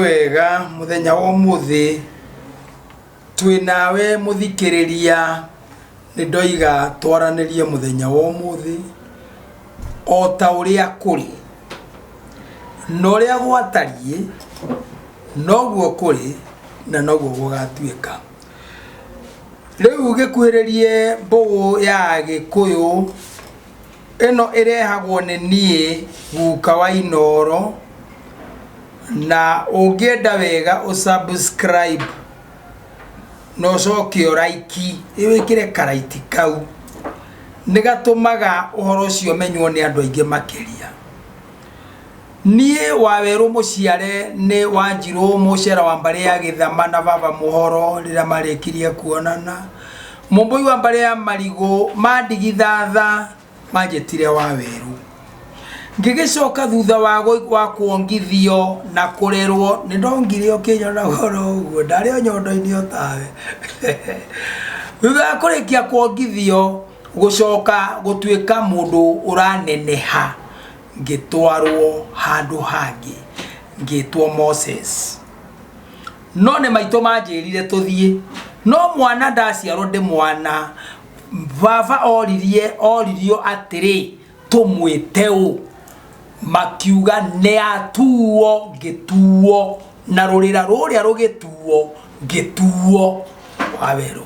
wega muthenya wa umuthi twi nawe muthikiriria ni ndoiga twaranirie muthenya wa umuthi o ta uria kuri na uria gwatarie noguo kuri na noguo gugatuika riu gikuhiririe mbugu ya gikuyu ĩno ĩrehagwo nĩ niĩ guka wa inooro na ũngĩenda wega ũ subscribe na ũcoke ũ like wĩkĩre ka like kau nĩgatũmaga ũhoro ũcio ũmenywo nĩ andũ aingĩ makĩria. Niĩ wawerũ mũciare nĩ wanjirũ mũcera wa mbarĩ ya gĩthama na baba mũhoro rĩrĩa marĩkirie kuonana mũmbũi wa mbarĩ ya marigũ mandigitha tha manjĩtire wawerũ ngĩgĩcoka thutha wa kuongithio na kũrerwo nĩ ndongire ũkĩnyonaga oro ũguo ndarĩ o nyondo inĩ o tawe thutha wa kũrĩkia kuongithio. gũcoka gũtuĩka mũndũ ũraneneha ngĩtwarwo handũ hangĩ ngĩtwo moses no nĩ maitũ manjĩrire tũthiĩ no mwana ndaciarwo ndĩ mwana baba oririe oririo atĩrĩ tũmwĩte ũ makiuga nĩ atuo ngĩtuo na rũrĩra rũrĩa rũgĩtuo ngĩtuo wawerũ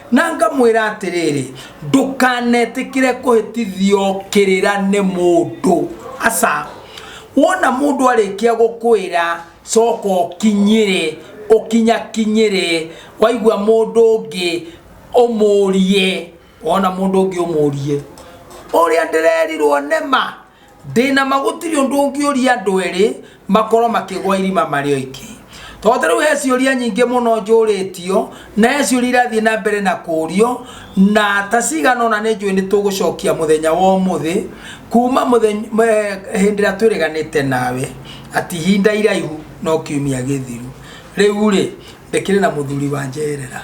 Na ngamwĩra atĩrĩrĩ, ndũkanetĩkĩre kũhĩtithio kĩrĩra nĩ mũndũ. Aca. Wona mũndũ arĩkia gũkwĩra coka ũkinyĩre, ũkinyakinyĩre, waigua mũndũ ũngĩ ũmũrie, wona mũndũ ũngĩ ũmũrie, ũrĩa ndĩrerirwo nĩ ma? ndĩna ma gũtirĩ ũndũ ũngĩũria andũ erĩ makorwo makĩgwa irima marĩ oiki tondũ rĩu he ciũria nyingĩ mũno njũrĩtio na he ciũria irathiĩ na mbere na kũrio na ta cigana ona nĩ njũĩ nĩ tũgũcokia mũthenya wa ũmũthĩ kuma mũthenya- m- eh, hĩndĩ ĩrĩa twĩrĩganĩte nawe ati ihinda iraihu no kiumia gĩthiru rĩu rĩ ndĩkĩrĩ na mũthuri wa njerera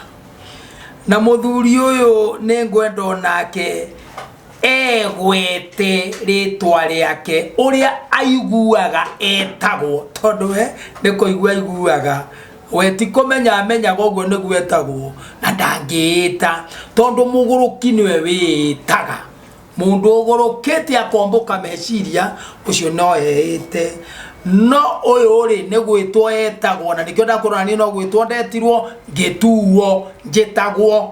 na mũthuri ũyũ nĩ ngwenda onake egwete rĩtwa rĩake ũrĩa aiguaga etagwo tondũ we nĩ kũigua aiguaga we ti kũmenya amenyaga ũguo nĩguo etagwo na ndangĩĩta tondũ mũgũrũki nĩwe wĩĩtaga mũndũ ũgũrũkĩte akombũka meciria ũcio no eĩte no ũyũ rĩ nĩ gwĩtwo etagwo na nĩkĩo ndakwĩrwo na niĩ no gwĩtwo ndetirwo ngĩtuo njĩtagwo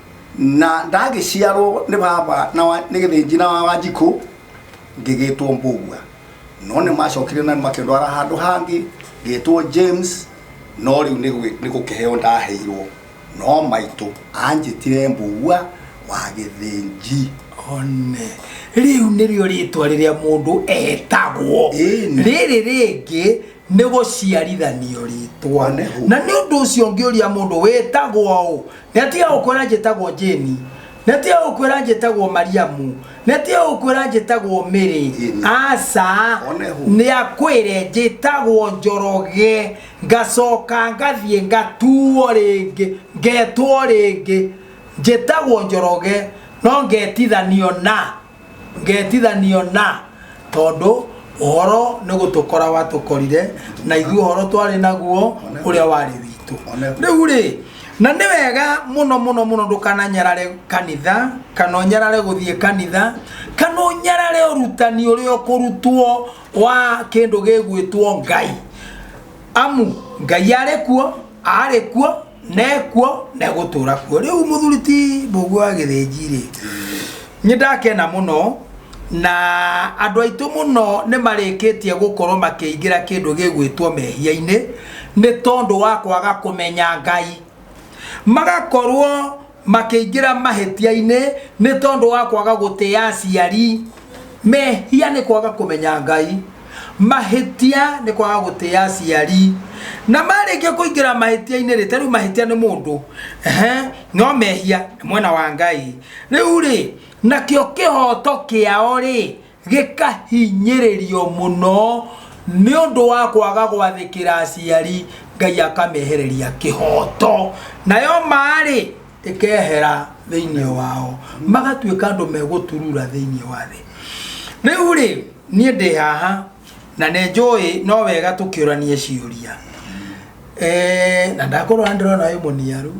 na ndagĩciarwo nĩ baba na wa- nĩ gĩthĩnji na wa wanjikũ ngĩgĩtwo mbũgua no nĩ macokire na makĩndwara handũ hangĩ ngĩtwo james no rĩu nĩ gwĩ- nĩ gũkĩheo ndaheirwo no maitũ anjĩtire mbũgua wa gĩthĩnji one rĩu nĩrĩo rĩtwa rĩrĩa mũndũ etagwo Ĩni. rĩrĩ rĩngĩ nĩ gũciarithanio rĩtwa One. na nĩ ũndũ ũcio ngĩũria mũndũ wĩtagwo ũ netiga gũkwĩra njĩtagwo jeni netiga gũkwĩra njĩtagwo mariamu netiga gũkwĩra njĩtagwo mĩrĩ Jane. aca One who. nĩ akwĩre njĩtagwo njoroge ngacoka ngathiĩ ngatuo rĩngĩ ngetwo rĩngĩ njĩtagwo njoroge no ngetithanio na ngetithanio na tondũ ũhoro nĩ gũtũkora watũkorire na ithuĩ ũhoro twarĩ naguo ũrĩa warĩ witũ rĩu rĩ na nĩ wega mũno mũno mũno ndũkananyarare kanitha kana ũnyarare gũthiĩ kanitha kana ũnyarare ũrutani ũrĩa ũkũrutwo wa kĩndũ gĩgwĩtwo ngai amu ngai arĩ kuo arĩ kuo nekuo na egũtũra kuo rĩu mũthuri ti mbũguo wa gĩthĩnji rĩ nĩ ndakena mũno na andũ aitũ mũno nĩ marĩkĩtie gũkorwo makĩingĩra kĩndũ gĩgwĩtwo mehia-inĩ nĩ tondũ wa kwaga kũmenya ngai magakorwo makĩingĩra mahĩtia-inĩ nĩ tondũ wa kwaga gũtĩa aciari mehia nĩ kwaga kũmenya ngai mahĩtia nĩ kwaga gũtĩa aciari na marĩkia kũingĩra mahĩtia-inĩ rĩ ta rĩu mahĩtia nĩ mũndũ ehe no mehia nĩ mwena wa ngai rĩu rĩ nakĩo kĩhoto kĩao rĩ gĩkahinyĩrĩrio mũno nĩ ũndũ wa kwaga gwathĩkĩra aciari ngai akamehereria kĩhoto nayo maarĩ ĩkehera thĩinĩ wao magatuĩka andũ megũturura thĩinĩ wa thĩ rĩu rĩ niĩ ndĩ haha na nĩ njũĩ no wega tũkĩũranie ciũria Eh, na ndakorwo nĩ ndĩrona wĩ mũniaru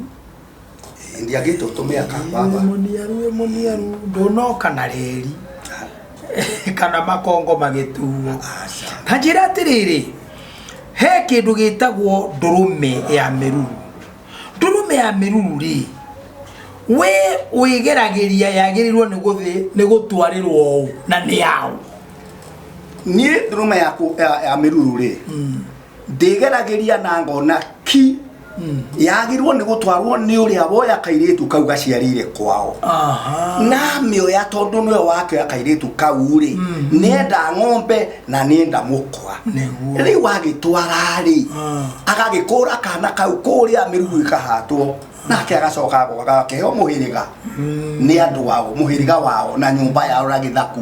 ndiagite utume aka baba muniaru muniaru ndunoka na reri kana makongo magituo hanjira atiriri he kindu gitagwo ndurume ya miruru ndurume ya miruru ri we wigeragiria yagirirwo ni guthi ni gutwarirwo u na ni yao nie ndurume yaku ya miruru ri mm. ndĩgeragĩria na ngona ki yagirwo nĩ gũtwarwo nĩ ũrĩa woya kairĩtu kau gaciarĩire kwao aha namĩoya tondũ nĩwe wakĩoya kairĩtu kau rĩ nenda ng'ombe na nenda mũkwa Nĩguo. rĩu agĩtwara rĩ Ah. agagĩkũra kana kau kũrĩa mĩrugu ĩkahatwo nake agacoka agoka agakĩheo mũhĩrĩga nĩ andũ wao mũhĩrĩga wao na nyũmba yao na gĩthaku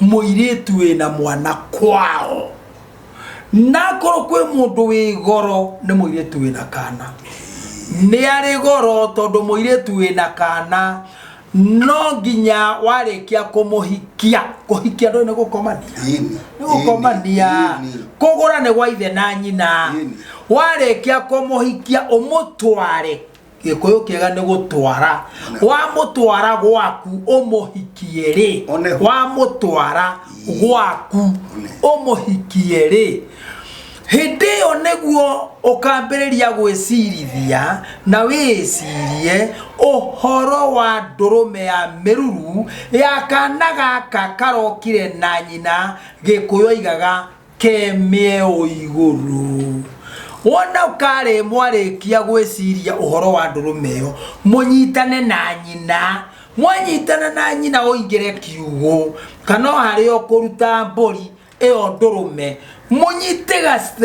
mũirĩtu wĩna mwana kwao nakorwo kwĩ mũndũ wĩ goro nĩ mũirĩtu wĩna kana nĩ arĩ goro tondũ mũirĩtu wĩna kana no nginya warĩkia kũmũhikia kũhikia ndũĩ nĩ gũkomania Ĩni, nĩ gũkomania ĩni, ĩni. kũgũra nĩ gwa ithe na nyina Ĩni. warĩkia kũmũhikia ũmũtware gikuyu kiega ni gutwara wamutwara gwaku umuhikie ri One ho. wamutwara gwaku One. umuhikie ri hindi iyo niguo ukambiriria gwicirithia na wicirie uhoro wa ndurume ya miruru ya kana gaka karokire na nyina gikuyu aigaga kemĩeo igũrũ. Wona ũkarĩ mwarĩkia gwĩciria ũhoro wa ndũrũme ĩyo, mũnyitane na nyina. Mwanyitana na nyina ũingĩre kiugũ, kana o harĩa ũkũruta mbũri ĩyo ndũrũme, mũnyite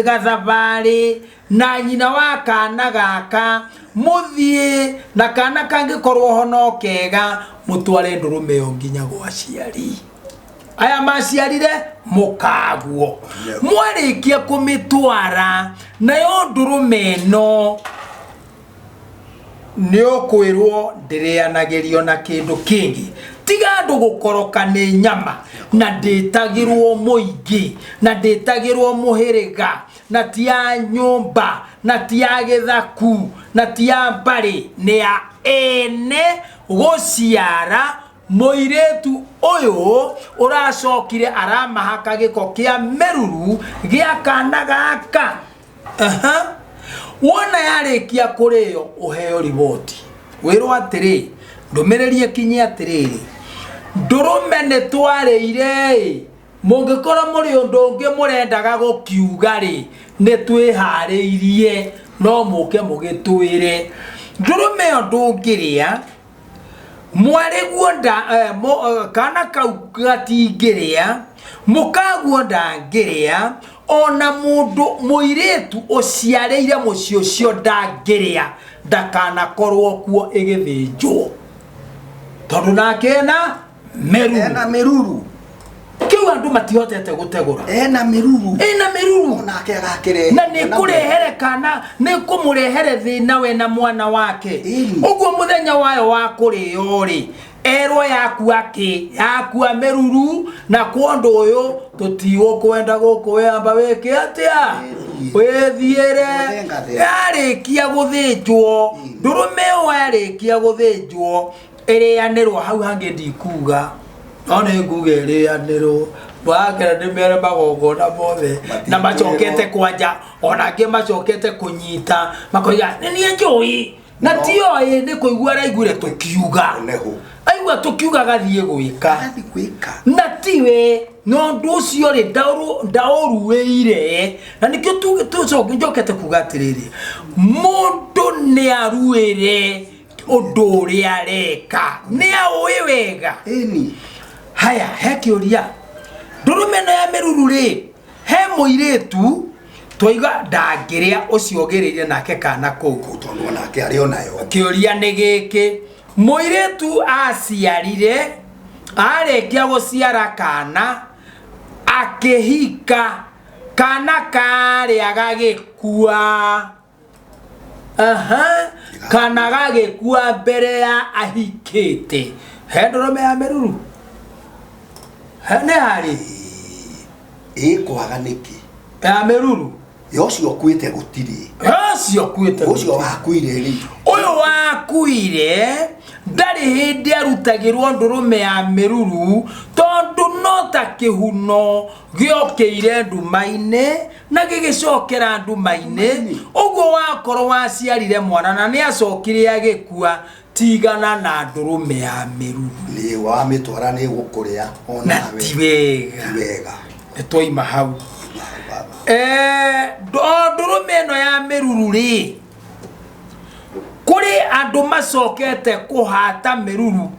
gathabarĩ, na nyina wa kana gaka mũthiĩ na kana kangĩkorwo ho no kega mũtware ndũrũme ĩyo nginya gwa aciari aya maciarire mũkaguo mwarĩkia kũmĩtwara nayo ndũrũme ĩno nĩ ũkwĩrwo ndĩrĩanagĩrio na kĩndũ kĩngĩ tiga andũ gũkoroka nĩ nyama na ndĩtagĩrwo mũingĩ na ndĩtagĩrwo mũhĩrĩga na ti ya nyũmba na ti ya gĩthaku na ti ya mbarĩ nĩ ya ene gũciara mũirĩtu ũyũ ũracokire aramahaka gĩko kĩa mĩruru gĩa kana gaka Aha. wona yarĩkia kũrĩo ũheo riboti wĩrwo atĩrĩ ndũmĩrĩri ĩkinye atĩrĩrĩ ndũrũme nĩ twarĩire mũngĩkorwo mũrĩ ũndũ ũngĩ mũrendaga gũkiuga rĩ nĩ twĩharĩirie no mũke mũgĩtwĩre ndũrũme ĩyo ndũngĩrĩa mwarĩguo nda eh, mũ- eh, kana kau gatingĩrĩa mũkaguo ndangĩrĩa ona mũndũ mũirĩtu ũciarĩire mũciĩ ũcio ndangĩrĩa ndakanakorwo kuo ĩgĩthĩnjwo tondũ nake ena meruru ena meruru kiu andu matihotete gutegura ena meruru ena meruru nake agakire na ni kurehere kana ni kumurehere thina we na mwana wake uguo muthenya wayo wa kurio ri erwo yakua ki yakua meruru na kwondu uyu tutiukwenda guku wamba wiki atia withiire yarikia guthinjwo ndurume yo yarikia guthinjwo ĩrĩanĩrwo hau hangĩ ndikuga no nĩ nguga ĩrĩanĩrwo ndwagera nĩ mere magongona mothe na macokete kwanja ona angĩ macokete kũnyita makoiga nĩ niĩ njũĩ na ti oĩ nĩ kũigua araiguire tũkiuga Nĩ hũ? aigua tũkiuga agathiĩ gwĩka Agathiĩ gwĩka. na tiwe na ũndũ ũcio rĩ ndaũrũ- ndaũruĩire na nĩkĩo tu- tucoke- njokete kuga atĩrĩrĩ mũndũ nĩ aruĩre undu uri areka ni aui wega Ĩni. haya he kiuria ndurume no ya miruru ri he muiritu twaiga ndangiria ucio ugirire nake kana kuu Tondũ onake arĩ o nayo. kiuria ni giki muiritu aciarire arikia guciara kana akihika kana karia gagikua aha kana gagĩkua mbere ya ahikĩte he ndũrũme ya mĩruru He, nĩ harĩ ĩ kwaga nĩkĩ ya mĩruru yo ũcio ũkuĩte gũtirĩ ũcio kuĩte ũcio wakuire rĩ ũyũ wakuire ndarĩ hĩndĩ arutagĩrwo ndũrũme ya mĩruru tondũ no ta kĩhuno gĩokĩire nduma-inĩ na gĩgĩcokera nduma-inĩ ũguo wakorwo waciarire mwana na nĩ acokire agĩkua tigana na ndũrũme ya mĩru nĩ wamĩtwara nĩ gũkũrĩa o na nawe ti wega ti wega nĩ twaima hau Baba. Eh, ndo- ndũrũme ĩno ya mĩruru rĩ kũrĩ andũ macokete kũhata mĩruru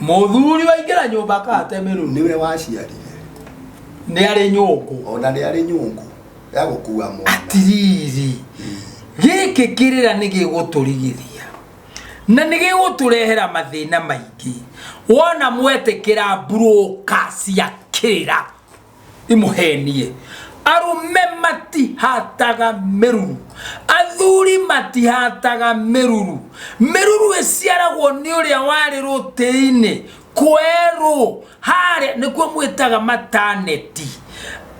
muthuri waingĩra nyũmba akatemerwo niwe waciarire nĩ arĩ nyũngũ ona nĩ arĩ nyũngũ ya gũkua mwana atiriri gĩkĩ kĩrĩra nĩ gĩgũtũrigithia na nĩ gĩgũtũrehera mathĩna maingĩ wona mwetĩkĩra mburũka cia kĩrĩra imuhenie arume matihataga meruru athuri matihataga meruru meruru iciaragwo ni uria wari rutei-ini kweru haria nikuo mwitaga mataneti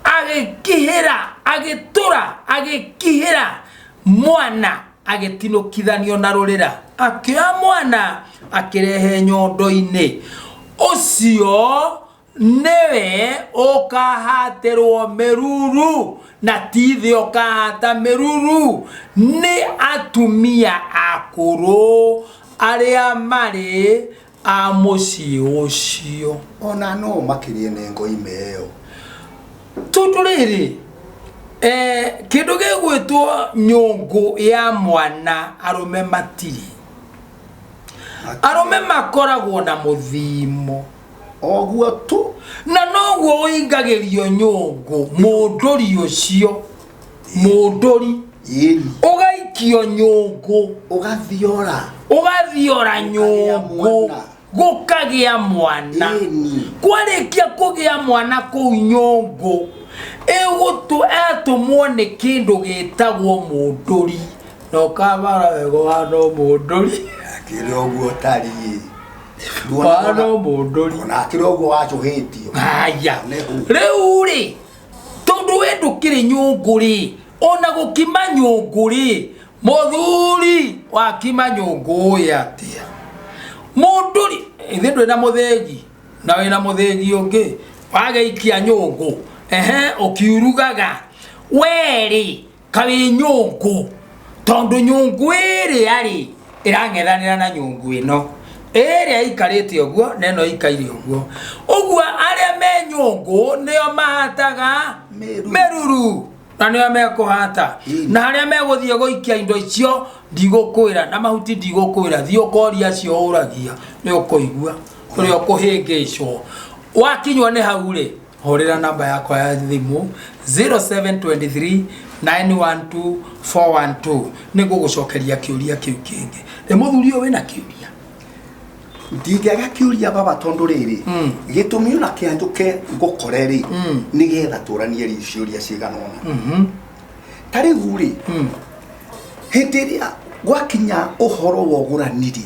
agikihira agitura agikihira mwana agitinukithanio na rurira akioya mwana akirehe nyondo-ini ucio nĩwe ũkahatĩrwo mĩruru na tithĩ ũkahata mĩruru nĩ atumia akũrũ arĩa marĩ a mũciĩ ũcio ona no makĩrie nĩ ngoime ĩyo tondũ rĩrĩ eh, kĩndũ gĩgwĩtwo nyũngũ ya mwana arũme matirĩ arũme makoragwo na mũthimo oguo tu na noguo ũingagĩrio nyũngũ mũndũri ũcio mũndũri ĩri ũgaikio nyũngũ ũgathiora ũgathiora nyũngũ mwana. gũkagĩa mwana ĩni kwarĩkia kũgĩa mwana kũu nyũngũ ĩgũtũ atũmwo nĩ kĩndũ gĩtagwo mũndũri na ũkabara wega ũhana mũndũri akĩrĩ oguo tariĩ Wa no mũndũri. ona akĩrĩ ũguo wacũhĩtio haya Nĩ hu. rĩu rĩ tondũ we ndũkĩrĩ nyũngũ rĩ ona gũkima nyũngũ rĩ mũthuri wakima nyũngũ ũĩ atĩa mũndũ rĩ ithuĩ ndwĩ na mũthĩgi na wĩ na mũthĩgi ũngĩ wagĩikia nyũngũ ehe ũkiurugaga we rĩ kabiri nyungu tondu nyungu iria ri irang'ethanira na nyungu ino iria ikarite uguo na ino ikaire uguo uguo aria me nyungu nio mahataga Meruru. meruru na nio mekuhata Ii. na aria meguthie guikia indo icio ndigukwira na mahuti ndigukwira thie ukoria acio uragia ni ukuigua uria ukuhingicwo wakinywo ni hau ri hũrĩra namba yakwa ya thimũ 0723912412 nĩ ngũgũcokeria kĩũria kĩu kĩngĩ ĩ mũthuri ũyũ wĩna kĩũria ndingĩaga kiuria baba tondu riri gitumi ona kia njuke ngukore ri ni getha turanie ri ciuria cigana ona ta riu ri hindi iria gwakinya uhoro wa ugurani ri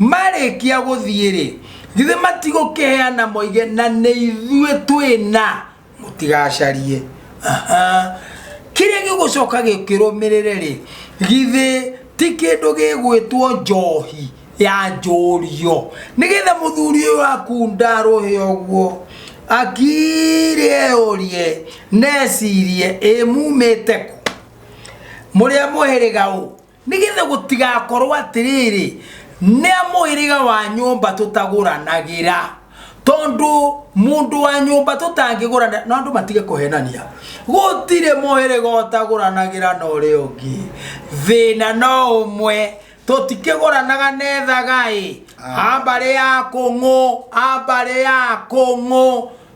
marĩkia gũthiĩ-rĩ, githĩ matigũkĩheana moige, na nĩ ithuĩ twĩna, mũtigacarie. Aha. Kĩrĩa gĩgũcoka gĩkĩrũmĩrĩre-rĩ, githĩ ti kĩndũ gĩgwĩtwo njohi ya njũrio, nĩgetha mũthuri ũyũ waku ndarũhe ũguo, akire eyũrie na ecirie, ĩ mumĩte kũ? Mũrĩ a mũhĩrĩga ũ? nĩgetha gũtigakorwo atĩrĩrĩ nĩ a mũhĩrĩga wa nyũmba tũtagũranagĩra tondũ mũndũ wa nyũmba tũtangĩgũrana na andũ matige kũhenania gũtirĩ mũhĩrĩga ũtagũranagĩra na ũrĩa ũngĩ thĩna no ũmwe tũtikĩgũranaga nethaga ĩ ambarĩ ya kũng'ũ ambarĩ ya kũng'ũ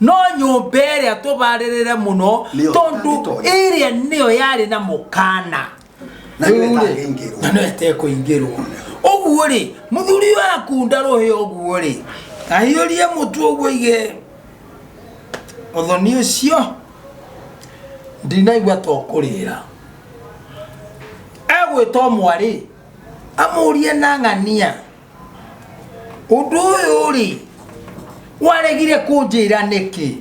no nyũmba ĩrĩa tũbarĩrĩre mũno Nĩyo tondũ ĩtangĩtonya. ĩrĩa nĩyo yarĩ na mũkana Na nĩyo Rĩu-rĩ, ĩtangĩingĩrwo. na nĩyo ĩtekũingĩrwo ũguo rĩ mũthuri ũyũ akunda rũhĩ ũguo rĩ ahiũrie mũtu ũguo ige ũthoni ũcio ndinaigua to kũrĩra egwĩtwo mwarĩ amũrie na ng'ania undu uyu ri waregire kunjira niki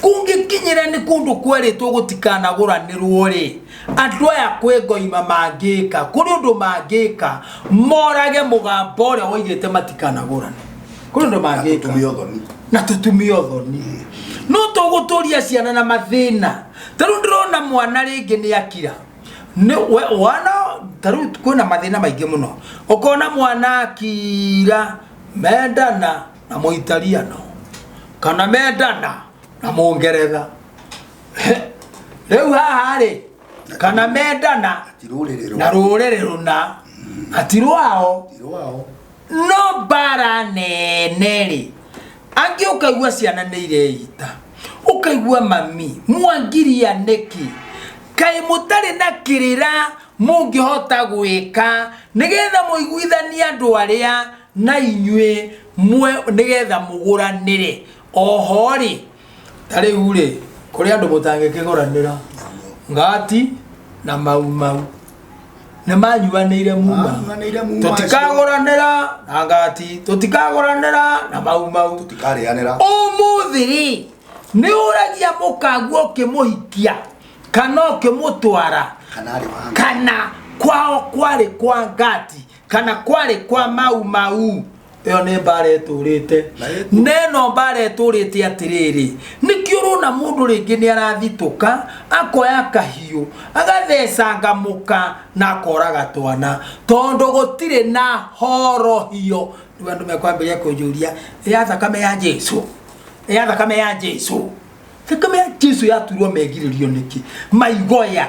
kungikinyira ni kundu kweritwo gutikanaguranirwo ri andu aya kwi ngoima mangika kuri undu mangika morage mugambo uria waigite matikanagurane kuri undu mangika Atumia ũthoni. na tutumia uthoni no tuguturia ciana na mathina taru ndirona mwana ringi ni akira Nĩ- we- wana ta rĩu kwĩna mathĩna maingĩ mũno ũkona mwana akira mendana na mũitariano kana mendana na mũngeretha rĩu haha rĩ kana mendana Ti rũrĩrĩ na rwa- rũrĩrĩ rũna atirwao ti rwao no mbara nene-rĩ angĩ ũkaigua ciana nĩ ireita ũkaigua mami mwangiria nĩkĩ kaĩ mũtarĩ na kĩrĩra mũngĩhota gwĩka nĩgetha mũiguithanie andũ arĩa na inyuĩ nĩgetha mũgũranĩre oho-rĩ ta rĩu-rĩ kũrĩ andũ mũtangĩkĩgũranĩra ngati na mau mau nĩ manyuanĩire muma Manyuanĩire muma tũtikagũranĩra na ngati tũtikagũranĩra na mau mau tũtikarĩanĩra ũmũthĩ-rĩ nĩ ũragia mũkangu ũkĩmũhikia kana ũkĩmũtwara kana arĩ wa kana kwao kwarĩ kwa ngati kana kwarĩ kwa mau mau ĩyo nĩ mbara ĩtũrĩte na ĩno mbara ĩtũrĩte atĩrĩrĩ nĩkĩ ũrona mũndũ rĩngĩ nĩ arathitũka akoya kahiũ agathecanga mũka na akoraga twana tondũ gũtirĩ na horohio rĩu andũ mekwambĩrĩria kũnjũria ya thakame ya jesu ya thakame ya jesu thakame ya jesu yaturwo megirĩrio nĩkĩ maigoya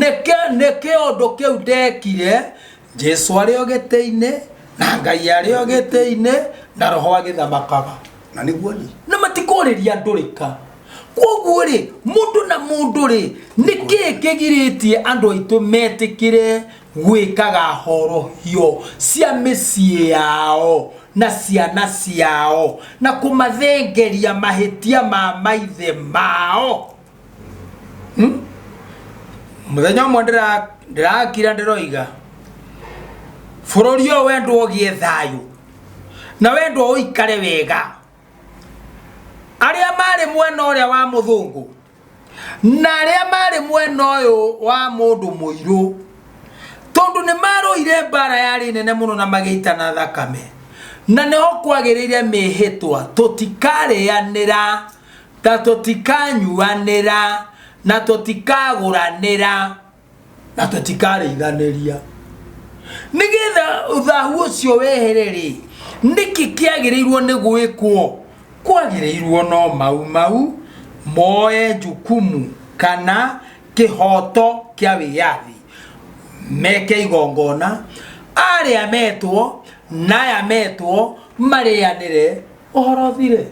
nĩkĩ nĩ kĩũndũ kĩu ndekire jesu arĩ o gĩtĩ-inĩ na ngai arĩ o gĩtĩ-inĩ na roho agĩthamakaga na nĩguo ni na matikũrĩria andũ rĩka kwoguo rĩ mũndũ na mũndũ rĩ nĩkĩ kĩgirĩtie andũ aitũ metĩkĩre gwĩkaga horohio cia mĩciĩ yao na ciana ciao na kũmathengeria mahĩtia ma maithe mao Hmm? muthenya ũmwe ndĩra- ndĩrakira ndĩroiga bũrũri ũyũ wendwo ũgĩe thayũ na wendwo ũikare wega arĩa marĩ mwena ũrĩa wa mũthũngũ na arĩa marĩ mwena ũyũ wa mũndũ mũirũ tondũ nĩ marũire mbara yarĩ nene mũno na magĩitana thakame na nĩho kwagĩrĩire mĩhĩtwa tũtikarĩanĩra Na tũtikanyuanĩra, na tũtikagũranĩra, na tũtikarĩithanĩria. Nĩ getha thahu ũcio wehere-rĩ, nĩkĩ kĩagĩrĩirwo nĩ gwĩkwo? Kwagĩrĩirwo no Mau Mau moe jukumu kana kĩhoto kĩa wĩyathi, meke igongona, arĩa metwo na aya metwo marĩanĩre ũhoro ũthire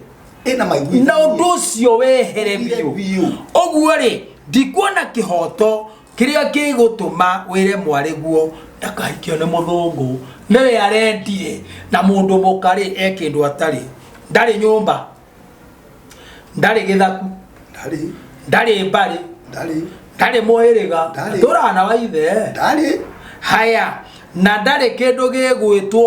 ĩna maigwi na ũndũ ũcio wehere Ũthire biũ biũ. ũguo rĩ ndikuona kĩhoto kĩrĩa kĩgũtũma wĩre mwarĩguo ndakahikio nĩ mũthũngũ nĩwe arendire na mũndũ mũka rĩ e kĩndũ atarĩ ndarĩ nyũmba ndarĩ gĩthaku ndarĩ ndarĩ mbarĩ ndarĩ ndarĩ mũhĩrĩga Ndarĩ. tũrana na waithe ndarĩ haya na ndarĩ kĩndũ gĩgwĩtwo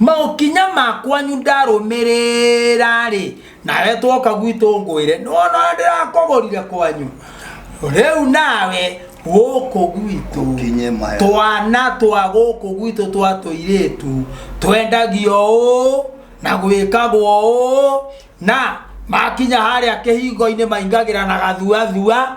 maũkinya makwanyu ndarũmĩrĩra-rĩ nawe twoka gwitũ ngwĩre nĩwona ũrĩa ndĩrakũgũrire kwanyu rĩu nawe gũkũ gwitũ Ũkinye maya. twana twa gũkũ gwitũ twa tũirĩtu twendagio ũũ na gwĩkagwo ũũ na makinya harĩa kĩhingo-inĩ maingagĩra na gathuathua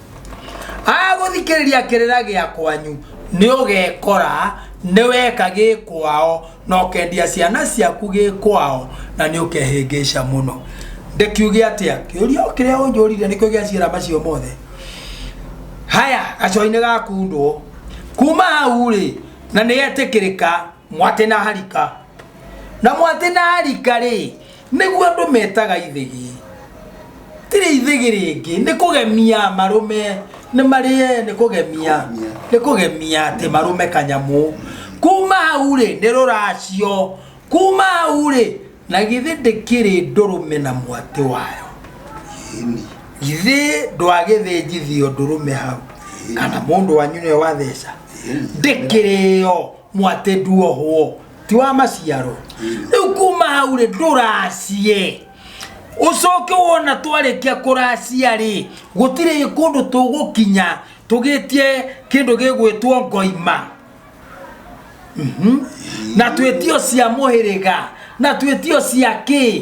agũthikĩrĩria kĩrĩra gĩa kwanyu nĩ ũgekora nĩ weka gĩ kwao na ũkendia ciana ciaku gĩ kwao na nĩ ũkehĩngĩca mũno ndĩkiuge atĩa kĩũria o kĩrĩa ũnjũrire nĩkĩo gĩa ciĩra macio mothe haya gacoinĩ gakundwo kuma hau rĩ na nĩ etĩkĩrĩka mwate na harika na mwate na harika rĩ nĩguo andũ metaga ithĩgi tirĩ ithĩgi rĩngĩ nĩ kũgemia marũme nĩ marĩe nĩ kũgemia nĩ kũgemia atĩ marũme kanyamũ kuma hau rĩ nĩ rũracio kuma hau rĩ na githĩ ndĩkĩrĩ ndũrũme na mwatĩ wayo Ĩni. githĩ ndwagĩthĩnjithio ndũrũme hau kana mũndũ wanyu nĩwe watheca Ĩni. ndĩkĩrĩyo mwate nduohwo ti wa maciaro rĩu kuma hau rĩ ndũracie ũcoke wona twarĩkia kũracia rĩ gũtirĩ kũndũ tũgũkinya tũgĩtie kĩndũ gĩgwĩtwo ngoima Mhm. na twĩtio cia mũhĩrĩga na twĩtio cia kĩ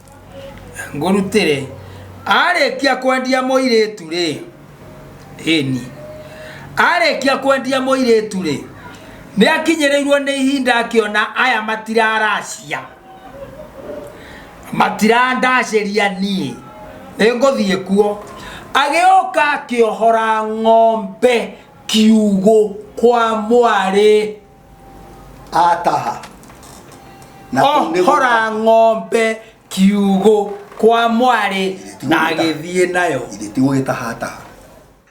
ngũrutĩre arĩkia kwendia mũirĩtu rĩ ĩni arĩkia kwendia mũirĩtu rĩ nĩ akinyĩrĩirwo nĩ ihinda akĩona aya matiraracia matirandacĩria niĩ nĩ ngũthiĩ kuo agĩũka akĩohora ng'ombe kiugũ kwa mwarĩ ataha na kũu nĩguo- ohora ng'ombe kiugũ kwa mwarĩ na agĩthiĩ nayo githĩ ti gũgĩtaha ataha